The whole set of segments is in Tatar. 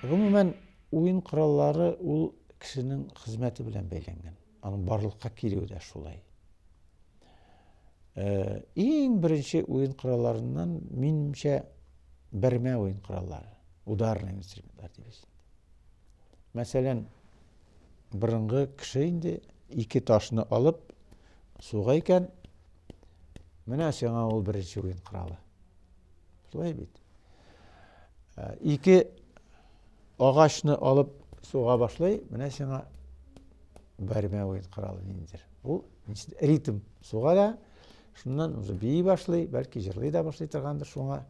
Гомумән, уен кораллары ул кешенең хезмәте белән бәйләнгән. Аның барлыкка килүе дә шулай. Э, иң беренче уен коралларыннан минемчә бермә уен кораллары, ударный инструментлар дибез. Мәсәлән, борынгы кеше инде ике ташны алып суга икән, Менә сиңа ул беренче уен коралы. Шулай бит. Ә, ике агачны алып суга башлый, менә сиңа бәрмә уен коралы ниндидер. Ул ритм суга да, шуннан уже бии башлый, бәлки җырлый да башлый торгандыр шуңа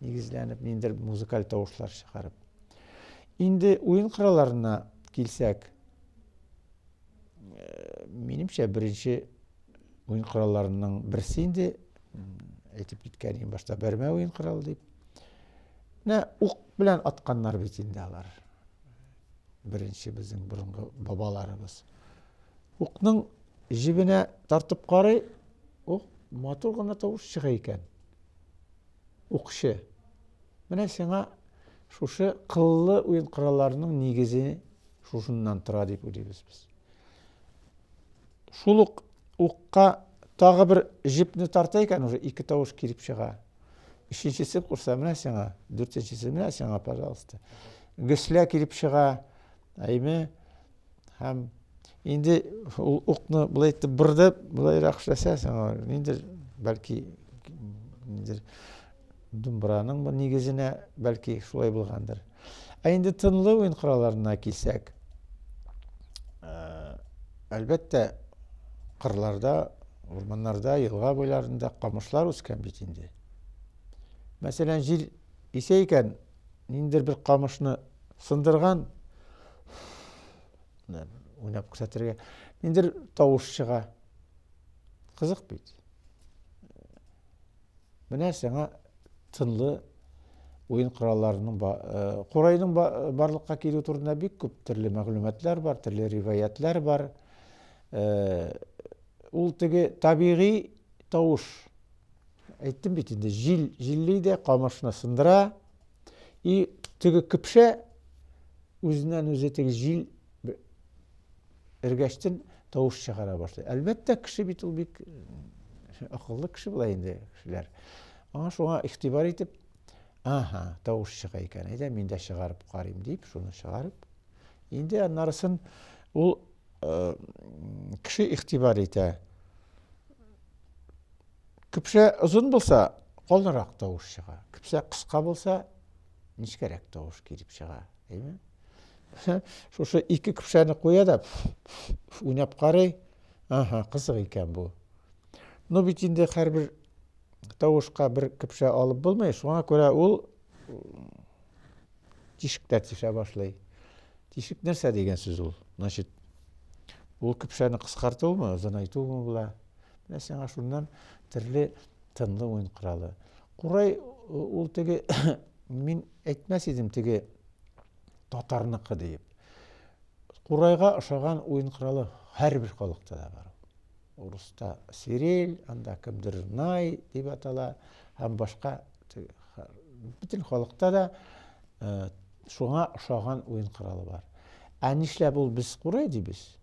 нигезләнеп, ниндидер музыкаль тавышлар чыгарып. Инде уен коралларына килсәк, э, минемчә беренче Уен коралларының берсе инде әйтеп киткән иң башта бәрмә уен коралы дип. Менә ук белән атканнар бит инде алар. Беренче безнең борынгы бабаларыбыз. Укның җибенә тартып карый, ук матур гына тавыш чыга икән. Укчы. Менә сиңа шушы кыллы уен коралларының нигезе шушыннан тора дип уйлыйбыз без. Шул ук укка тагы бер җепне тарта икән, уже ике тавыш килеп чыга. Өченчесе курса менә сиңа, дүртенчесе менә сиңа, пожалуйста. Гөслә килеп чыга, әйме, һәм инде ул укны былай итеп бырдып, былайрак эшләсә, сиңа инде бәлки инде Думбраның бу нигезенә бәлки шулай булгандыр. Ә инде тынлы уен коралларына килсәк, әлбәттә, кырларда, урманнарда, елга буйларында камышлар үскән бит инде. Мәсәлән, җил исә икән, ниндер бер камышны сындырган, уйнап күрсәтергә, ниндер тавыш чыга. Кызык бит. Менә сиңа тынлы уен коралларының курайның барлыкка килү турында бик күп төрле мәгълүматлар бар, төрле риваятлар бар. Ул теге табигый тавыш. Әйттем бит инде, җил, җилли дә камышны сындыра. И теге кипшә үзеннән үзе теге җил эргәчтен тавыш чыгара башлый. Әлбәттә, кеше бит ул бик акыллы кеше була инде кешеләр. Аңа шуңа игътибар итеп, аһа, тавыш чыга икән, әйдә мин дә чыгарып карыйм дип, шуны чыгарып. Инде аннарысын ул э, кеше игътибар итә. Кепшә озын булса, калынрак тавыш чыга. Кепшә кыска булса, нечкәрәк тавыш килеп чыга, әйме? Шушы ике көпшәне куя да уйнап карый. Аһа, кызык икән бу. Ну бит инде һәрбер тавышка бер көпшә алып булмый, шуңа күрә ул тишектә тишә башлый. Тишек нәрсә дигән сүз ул? Значит, ул көпшәне кыскартуымы, озынайтуымы була? Менә сиңа шуннан төрле тынлы уен коралы. Курай ул теге мин әйтмәс идем теге татарныкы диеп. Курайга ошаган уен коралы һәрбер халыкта да бар. Урыста сирель, анда кемдер най дип атала һәм башка бөтен халыкта да э, шуңа ошаган уен коралы бар. Ә нишләп ул без курай дибез?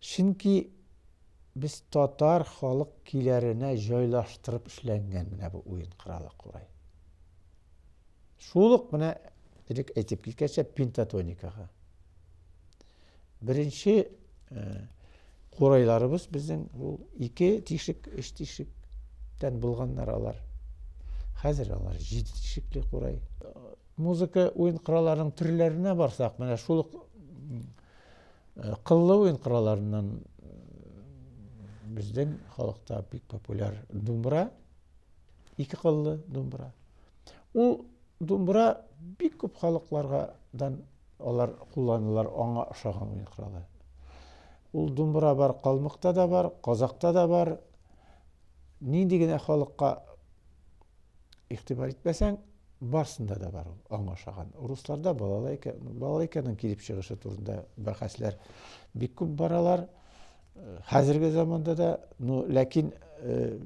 Чөнки без татар халык киләренә җайлаштырып эшләнгән менә бу уен коралы курай. Шул ук менә элек әйтеп киткәнчә пентатоникага. Беренче э, курайларыбыз безнең ул ике тишек, өч тишектән булганнар алар. Хәзер алар җиде тишекле курай. Музыка уен коралларының төрләренә барсак, менә шул ук Э, кыллы уен коралларыннан безнең халыкта бик популяр думбра ике кыллы думбра ул думбра бик күп халыклардан алар кулланылар аңа ошаган уен коралы ул думбра бар калмыкта да бар казакта да бар нинди генә халыкка Игътибар итмәсәң, барсында да бар ул, аңа ошаган. Русларда балалайка, балалайканың килеп чыгышы турында бәхәсләр бик күп баралар. Э, хәзерге заманда да, ну, ләкин э,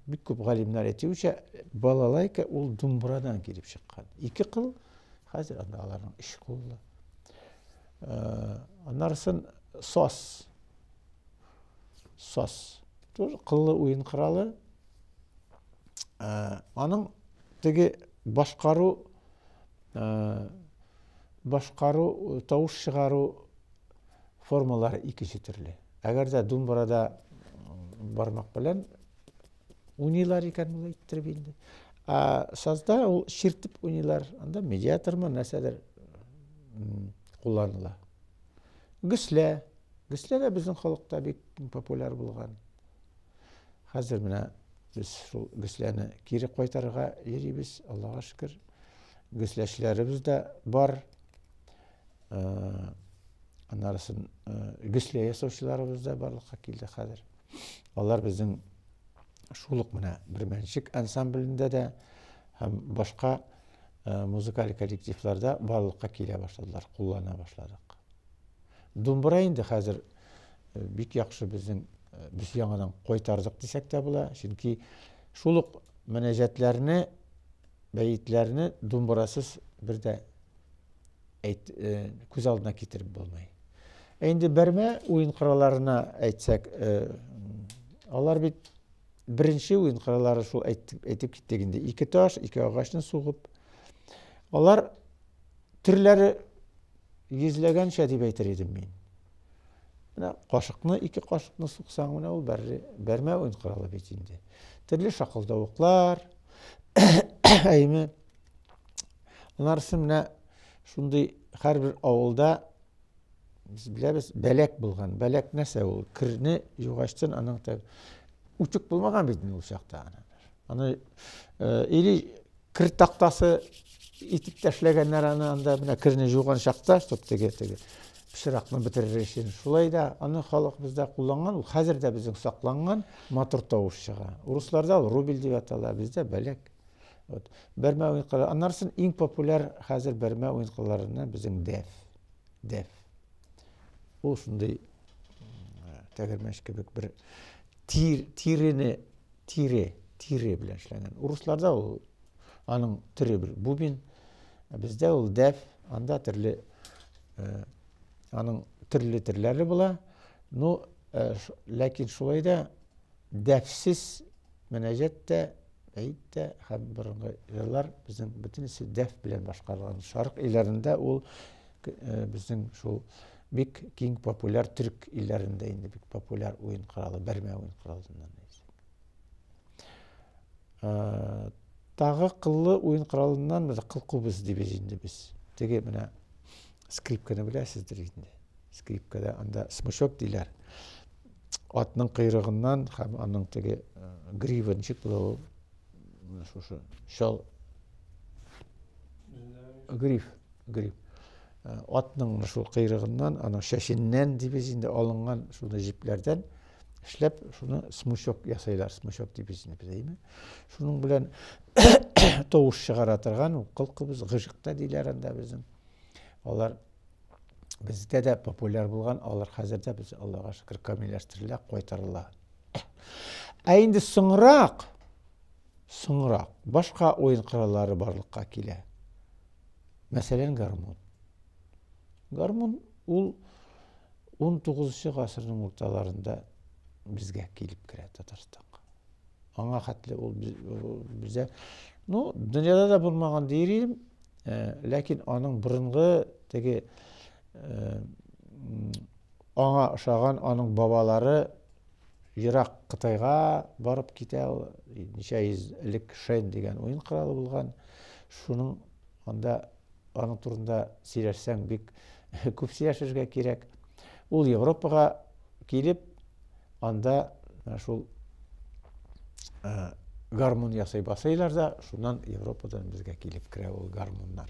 бик күп галимнәр әйтүенчә, балалайка ул думбрадан килеп чыккан. Ике кыл, хәзер анда аларның өч куллы. Э, аннарысын сос. Сос. Тоже кыллы уен коралы. аның теге башкару башкару тавыш чыгару формалары икенче төрле әгәр дә думбарада бармак белән уйныйлар икән ул әйттереп инде ә сазда ул чиртеп уйныйлар анда медиатормы нәрсәдер кулланыла гөслә гөслә дә безнең халыкта бик популяр булган Хәзер менә без шул гөсләне кире кайтарырга йөрибез, Аллага шөкер. Гөсләчеләребез дә бар. Аннарысын гөслә ясаучыларыбыз да барлыкка килде хәзер. Алар безнең шул ук менә Бирмәнчек ансамблендә дә һәм башка музыкаль коллективларда барлыкка килә башладылар, куллана башладык. Думбра инде хәзер э, бик яхшы безнең э, без яңадан кайтардык дисәк тә була, чөнки шул ук мөнәҗәтләрне, бәетләрне думбрасыз бер дә әйт, э, күз алдына китереп булмый. Ә инде бәрмә уен коралларына әйтсәк, алар бит беренче уен кораллары шул әйтеп, әйтеп киттек инде. Ике таш, ике агачны сугып. Алар төрләре Йөзләгәнчә дип әйтер идем мин. Менә кашыкны, ике кашыкны суксаң, менә ул бәрре, бәрмә уен коралы бит инде. Төрле шакылдавыклар, әйме. Анарысы менә шундый һәрбер авылда без беләбез, бәләк булган. Бәләк нәрсә ул? Кирне югачтын аның тәг үтүк булмаган бит ул чакта. Аны э, или Кер тактасы итеп тәшләгәннәр аны анда, менә керне жуган чакта, чтоб теге, теге пычракны бетерер өчен. Шулай да аны халык бездә кулланган, ул хәзер дә безнең сакланган, матур тавыш чыга. Урысларда ул рубель дип атала, бездә бәләк. Вот. Бәрмә уенкылары. Аннарсын иң популяр хәзер бәрмә уенкыларына безнең дәф. Дәф. Ул шундый тәгәрмәч кебек бер тир, тирене Тире, тире белән эшләнгән. Урысларда ул аның төре бер бубен, ә бездә ул дәф, анда төрле э, аның төрле төрләре була. Ну, э, ләкин шулай да дәфсез мөнәҗәт тә, әйт тә һәм борынгы җырлар безнең бөтенесе дәф белән башкарылган. Шарык илләрендә ул Безнең шул бик киң популяр төрк илләрендә инде бик популяр уен коралы, бәрмә уен коралыннан Тагы кыллы уен коралыннан без кыл кубыз дибез инде без. Теге менә скрипканы беләсездер инде. Скрипкада анда смычок диләр. Атның койрыгыннан һәм аның теге гривенчик булуы Менә шушы чал гриф, гриф. Э, атның шул кыйрыгыннан, аның шәшеннән дибез инде алынган шул җипләрдән эшләп, шуны смычок ясайлар, смычок дибез инде без әйме. Шуның белән тавыш чыгара торган ул кылкыбыз гыжыкта диләр анда безнең. Алар бездә дә популяр булган, алар хәзер дә без Аллага шөкер камилләштерелә, кайтарыла. Ә инде соңрак, соңрак башка уен кораллары барлыкка килә. Мәсәлән, гармун. Гармун ул 19 гасырның урталарында безгә килеп керә Татарстанга. Аңа хәтле ул бездә ну, дөньяда да булмаган дир идем, э, ләкин аның борынгы теге э, Аңа ошаган аның бабалары ерак Кытайга барып китә. Ул ничә йөз элек Шен дигән уен коралы булган. Шуның анда аның турында сөйләшсәң бик күп сөйләшергә кирәк. Ул Европага килеп, анда шул гармун ясый басыйлар да, шуннан Европадан безгә килеп керә ул гармуннар.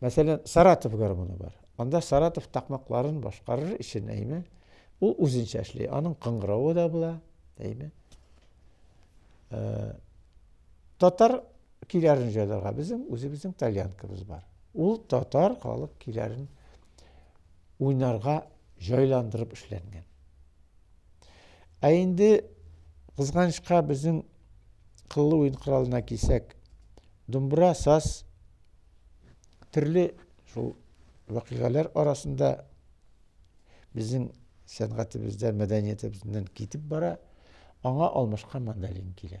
Мәсәлән, Саратов гармоны бар. Анда Саратов такмакларын башкарыр өчен, әйме, ул үзенчә эшли. Аның кыңгыравы да була, әйме. Э, татар киләрен җайларга безнең үзебезнең тальянкабыз бар. Ул татар халык киләрен уйнарга җайландырып эшләнгән. Ә инде кызганычка безнең кыллы уен коралына кисәк, думбра, саз, Төрле шул вакыйгалар арасында безнең сәнгатебездә, мәдәниятебездән китеп бара, аңа алмашка мандалин килә.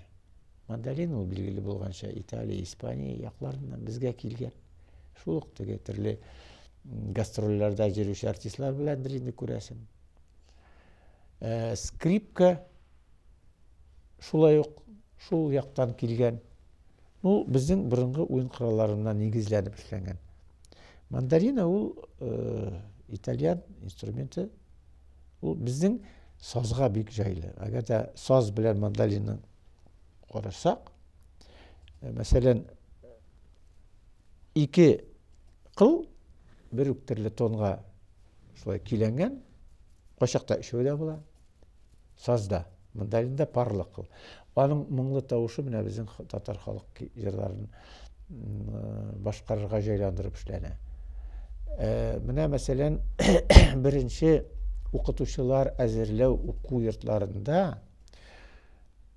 Мандалин ул билгеле булганча Италия, Испания якларыннан безгә килгән. Шул ук теге төрле гастрольләрдә йөрүче артистлар беләндер инде күрәсең. Э, скрипка шулай ук шул яктан килгән. Ул безнең борынгы уен коралларына нигезләнеп эшләнгән. Мандарина ул э, итальян инструменты. Ул безнең сазга бик җайлы. Әгәр дә саз белән мандаринны карасак, э, мәсәлән, ике кыл бер үк төрле тонга шулай киләнгән, кайчакта өчәү дә була. Сазда. Мандолинда парлык кыл. Аның моңлы тавышы менә безнең татар халык җырларын башкарырга җайландырып эшләнә. Э, менә мәсәлән, беренче укытучылар әзерләү уку йортларында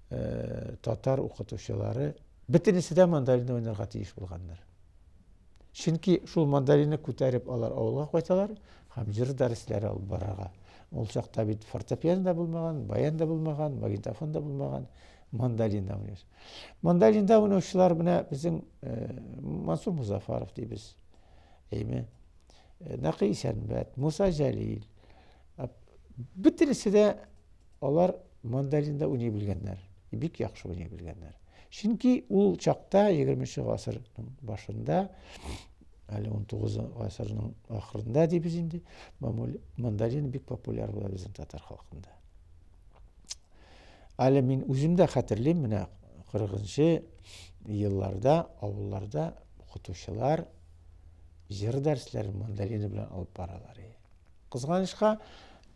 э, татар укытучылары бөтенесе дә мандолинда уйнарга тиеш булганнар. Чөнки шул мандолинны күтәреп алар авылга кайталар һәм җыр дәресләре алып барырга. Ул чакта бит фортепиано да булмаган, баян да булмаган, магнитофон да булмаган, мандолинда уйныйбыз. Мандолинда уйнаучылар менә безнең э, Мансур Музафаров дибез. Әйме? Э, Нәкый Исәнбәт, Муса Җәлил. Бөтенесе дә Алар мандолин да уйный белгәннәр, бик яхшы уйный белгәннәр. Чөнки ул чакта 20 нче гасырның башында, әле 19 гасырның ахырында дибез инде, мандолин бик популяр була безнең татар халкында. Әле мин үзем дә хәтерлим, менә 40-нчы елларда авылларда укытучылар җыр дәресләрен мандолины белән алып баралар. Кызганычка,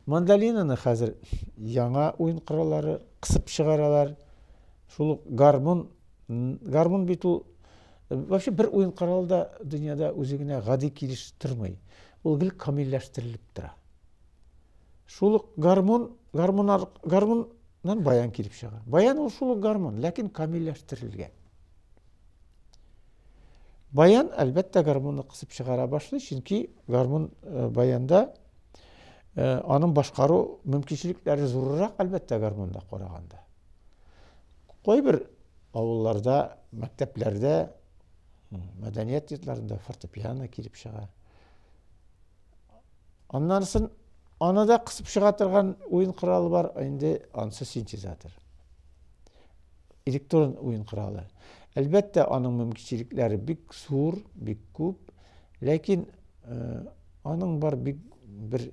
Мандолинаны хәзер яңа уен кораллары кысып чыгаралар. Шул ук гармун, гармун бит ул вообще бер уен коралы да дөньяда үзе генә гади килеш тормый. Ул гел камилләштерелеп тора. Шул ук гармун, гармун, гармуннан баян килеп чыга. Баян ул шул ук гармун, ләкин камилләштерелгән. Баян, әлбәттә, гармунны кысып чыгара башлый, чөнки гармун э, баянда Аның башкару мөмкинчелекләре зуррак, әлбәттә, гармунда караганда. Кайбер авылларда, мәктәпләрдә, мәдәният йортларында фортепиано килеп чыга. Аннан соң аны да кысып чыга торган уен коралы бар, инде ансы синтезатор. Электрон уен коралы. Әлбәттә, аның мөмкинчелекләре бик зур, бик күп, ләкин Аның бар бик бер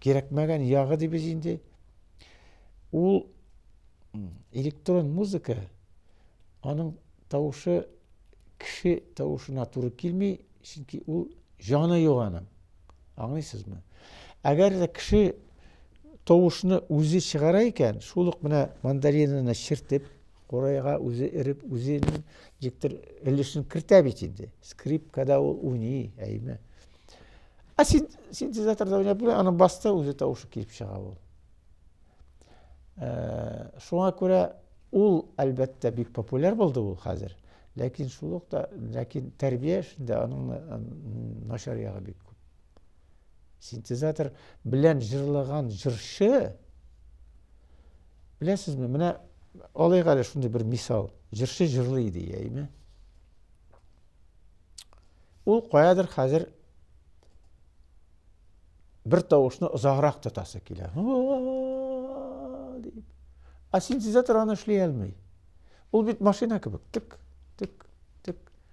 кирәкмәгән ягы дибез инде. Ул электрон музыка, аның тавышы кеше тавышына туры килми, чөнки ул җаны юк аның. Аңлыйсызмы? Әгәр дә кеше тавышны үзе чыгара икән, шул ук менә мандариныны чертеп, Курайга үзе эреп, үзенең диктор өлешен кертә бит инде. Скрипкада ул уйный, әйме. Ә син синтезаторда уйнап була, аны басты, үзе тавышы килеп чыга ул. Ә, шуңа күрә ул, әлбәттә, бик популяр булды ул хәзер. Ләкин шул ук та, ләкин тәрбия эшендә аның начар ягы бик күп. Синтезатор белән җырлаган җырчы Беләсезме, менә алыйк әле шундый бер мисал. Җырчы җырлый иде, яйме? Ул каядыр хәзер бер тавышны озаграк тотасы килә. дип. А синтезатор аны эшли алмый. Ул бит машина кебек. Тик, тик, тик.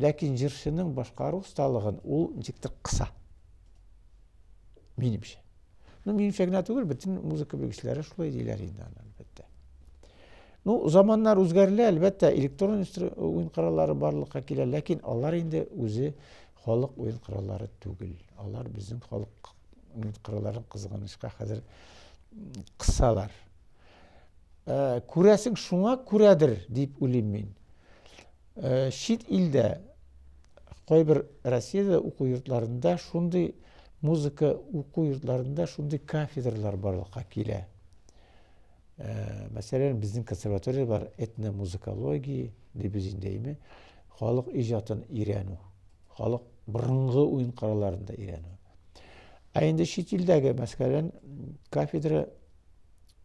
Ләкин җырчының башкару осталыгын ул ничектер кыса. Минемчә. Ну, минемчә генә түгел, бөтен музыка белгечләре шулай диләр инде аны, әлбәттә. Ну, заманнар үзгәрелә, әлбәттә, электрон уен кораллары барлыкка килә, ләкин алар инде үзе халык уен кораллары түгел. Алар безнең халык уен коралларын кызганычка хәзер кысалар. Ә, күрәсең шуңа күрәдер, дип уйлыйм мин. Э, чит илдә кайбер россиядә уку йортларында шундый музыка уку йортларында шундый кафедралар барлыкка килә э, мәсәлән безнең консерватория бар этномузыкология дибез инде әйме халык иҗатын өйрәнү халык борынгы уен коралларын да өйрәнү ә инде чит илдәге мәсәлән кафедра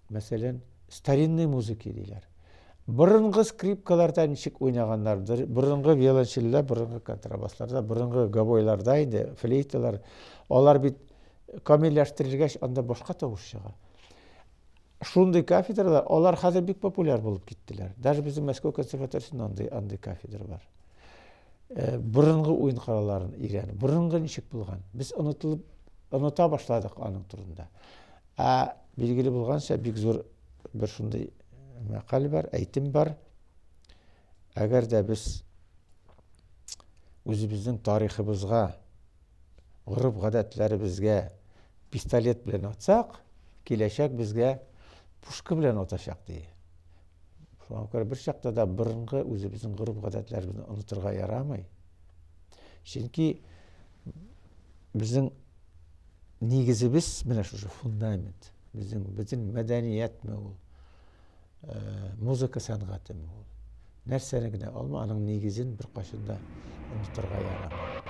мәсәлән, старинный музыки диләр. Борынгы скрипкаларда ничек уйнаганнар, борынгы виолончельдә, борынгы контрабасларда, борынгы гобойларда инде, флейталар, алар бит камилләштерелгәч, анда башка тавыш чыга. Шундый кафедралар, алар хәзер бик популяр булып киттеләр. Даже безнең Мәскәү консерваториясендә андый, андый кафедра бар. Э, борынгы уен коралларын өйрәнеп, борынгы ничек булган? Без онытылып, оныта башладык аның турында. Ә билгеле булганча, бик зур бер шундый мәкаль бар, әйтем бар. Әгәр дә без үзебезнең тарихыбызга, гореф-гадәтләребезгә пистолет белән атсак, киләчәк безгә пушка белән атачак ди. Шуңа күрә бер чакта да борынгы үзебезнең гореф-гадәтләребезне онытырга ярамый. Чөнки безнең нигезебез менә шушы фундамент. Безнең бөтен мәдәниятме ул? Э, музыка сәнгатеме ул? Нәрсәне генә алма, аның нигезен бер кашында онытырга ярамый.